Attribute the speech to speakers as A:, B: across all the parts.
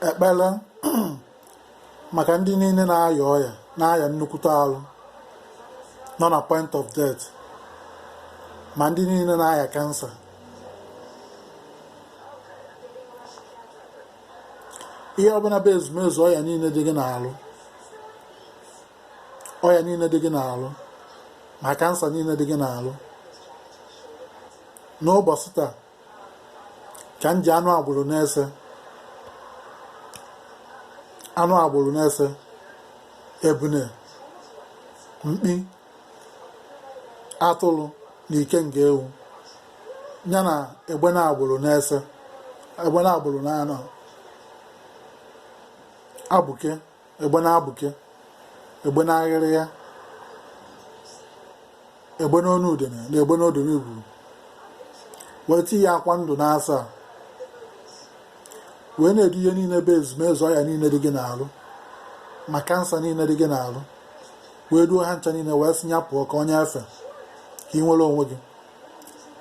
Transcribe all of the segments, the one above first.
A: ekpere maka ndị niile na-aya ọya na-aya nnukwute arụ nọ na point of death ma ndị niile na-aya kansa ihe ọbụla bụ ezumezu ọya niile dị gị n'arụ ọya niile dị gị n'arụ ma kansa niile dị gị n'arụ n'ụbọchị taa ka m ji anụ agbụrụ na ese anụ agbụrụ na ese ebune mkpi atụrụ na ikenga ewu ya na egbene agbụrụ na ese egbene agbụrụ na anọ abụke egbene abụke egbene aghịrịya egbene onu udene na egbene odene igwuru wee tinye akwa ndụ n'asaa wee na-edu ihe niile bụ ezumezu ọya niile dị gị n'arụ ma kansa niile dị gị n'arụ wee duo ha ncha niile wee sị ya pụọ ka o nye efe ka ị nwere onwe gị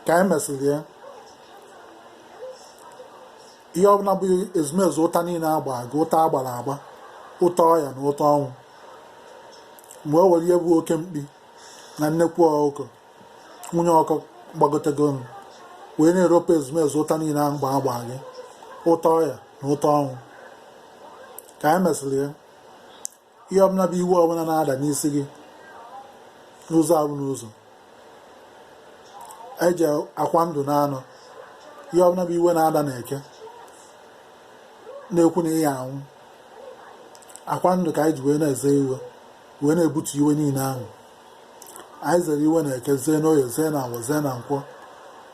A: ka anyị mesịrị ya ihe ọbụla bụ ezumezu ụta niile agba gị ụta agbara agba ụta ọya na ụta ọnwụ wee were ihe bụ oke mkpi na nnekwu ọkụkọ nwunye ọkụ gbagotego m wee na-eropu ezumezu ụta niile ahụ agba gị ụta ọya na ụta ọnwụ ka anyị mesịrị ya ihe ọbụla bụ iwe ọbụla na-ada n'isi gị n'ụzọ abụ n'ụzọ anyị ji akwa ndụ na anọ ihe ọbụla bụ iwe na-ada na eke na-ekwu na ị ya-anwụ akwa ndụ ka anyị ji wee na-eze iwe wee na-ebutu iwe niile ahụ anyị zere iwe na eke zee n'oye zee na awọ zee na nkwọ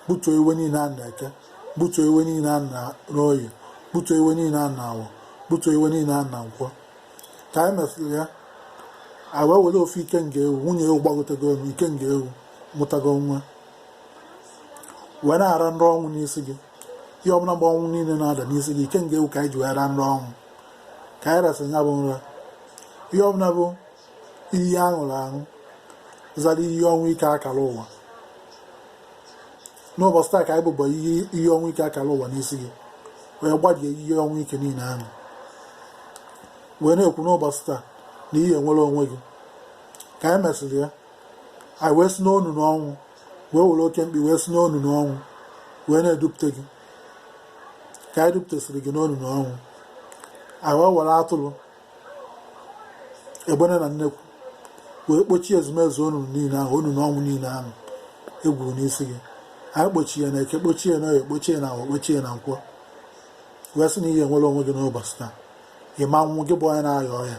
A: butuo iwe niile ahụ na eke butuo iwe niile ahụ n'oye butuo iwe niile ahụ na awọ butuo iwe niile ahụ na nkwọ ka anyị mesịrị ya anyị wee were ofu ikenga ewu nwunye ewu gbagotego elu ikenga ewu mụtago nwa wee na-ara nra ọnwụ n'isi gị ihe ọbụla bụ ọnwụ niile na-ada n'isi gị ikenga ewu ka anyị ji wee ra nra ọnwụ ka anyị rasịrị ya bụ nra ihe ọbụla bụ iyi aṅụrụ aṅụ zara iyi ọnwụ ike akara ụwa n'ụbọchị taa ka anyị bụbọ iyi ọnwụ ike akara ụwa n'isi gị wee gbadie iyi ọnwụ ike niile ahụ wee na-ekwu n'ụbọchị taa na ị ya-enwere onwe gị ka anyị mesịrị ya anyị wee si n'ọnụnụ ọnwụ wee were oke mkpi wee si n'ọnụnụ ọnwụ wee na-edupụta gị ka anyị dupụtasịrị gị n'ọnụnụ ọnwụ anyị wee were atụrụ egbene na nnekwu wee kpochie ezumezu onunu niile ahụ onunu ọnwụ niile ahụ egwuru n'isi gị anyị kpochie na eke kpochie ya na oye kpochie na ahọ kpochie na nkwọ wee sị na ị ya-enwere onwe gị n'ụbọchị taa ịma nwụ gị bụ onye na-aya ọya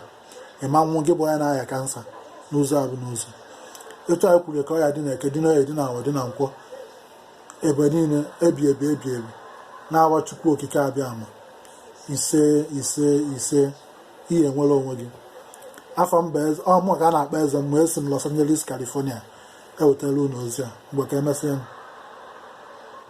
A: ịma nwụ gị bụ onye na-aya kansa n'ụzọ abụ n'ụzọ etu anyị kwuru ka ọya dị na eke dị na oye dị na ahọ dị na nkwọ ebe niile ebi ebi ebi ebi na aha Chukwu Okike Abịama ise ise ise ị ya-enwere onwe gị afa m bụ ọmụ ka a na-akpọ eze mmụọ esi m Los Angeles California ewetara unu ozi a mgbe ka emesịa